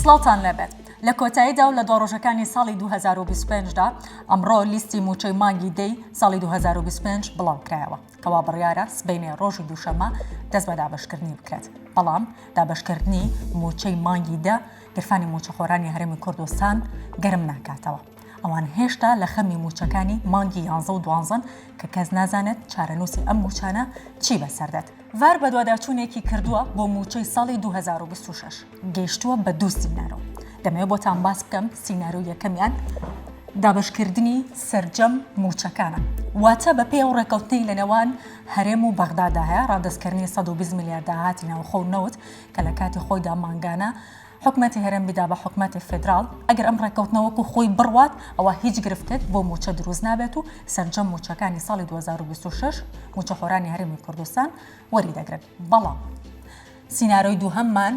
سڵاوتان لێبێت لە کۆتاییدا و لە دوا ڕۆژەکانی ساڵی دوو هەزار و بیست و پێنج دا ئەمڕۆ لیستی مووچەی مانگی دەی ساڵی دوو هەزار و بیست و پێنج بڵاوکرایەوە کەوا بڕیارە سبەینێ ڕۆژی دووشەممە دەست بە دابەشکردنی بکرێت بەڵام دابەشکردنی مووچەی مانگی دە گرفانی مووچەخۆرانی هەرێمی کوردستان گەرم ناکاتەوە. ئەوان هێشتا لە خەمی مووچەکانی مانگی یانزە و دوانزەن کە کەس نازانێت چارەنووسی ئەم مووچانە چی بەسەردێت. ڤار بەدواداچوونێکی کردووە بۆ مووچەی ساڵی دوو هەزار و بیست و شەش، گەیشتووە بە دوو سینارۆ. دەمەوێت بۆتان باس بکەم، سینارۆی یەکەمیان دابەشکردنی سەرجەم مووچەکانە، واتە بەپێی ئەو ڕێککەوتنەی لەنێوان هەرێم و بەغدادا هەیە، ڕادەستکردنی سەد و بیست ملیار داهاتی ناوخۆ و نەوت کە لە کاتی خۆیدا مانگانە، حکومەتی هەرێم بیدا بە حکومەتی فیدراڵ، ئەگەر ئەم ڕێککەوتنە وەکو خۆی بڕوات ئەوا هیچ گرفتێک بۆ مووچە دروست نابێت و سەرجەم مووچەکانی ساڵی دوو هەزار و بیست و شەش مووچەخۆرانی هەرێمی کوردستان وەریدەگرن بەڵام سینارۆی دووهەممان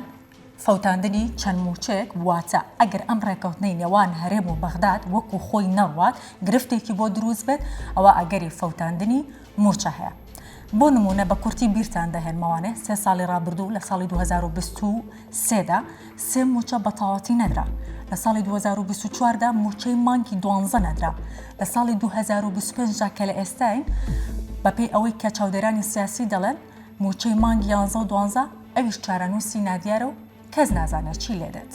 فەوتاندنی چەند مووچەیەک واتە ئەگەر ئەم ڕێککەوتنەی نێوان هەرێم و بەغداد وەکو خۆی نەڕوات گرفتێکی بۆ دروست بێت ئەوا ئەگەری فەوتاندنی مووچە هەیە. بۆ نموونە بە کورتی بیرتان دەهێنمەوانێ سێ ساڵی ڕابردوو لە ساڵی دوو هەزار و بیست و سێ دا سێ مووچە بە تەواوەتی نەدرا، لە ساڵی دوو هەزار و بیست و چوار دا مووچەی مانگی دوانزە نەدرا، لە ساڵی دوو هەزار و بیست و پێنج دا کە لە ئێستاین بەپێی ئەوەی کە چاودێرانی سیاسی دەڵێن مووچەی مانگی یانزە و دوانزە ئەویش چارەنووسی نادیارە و کەس نازانێت چی لێ دێت.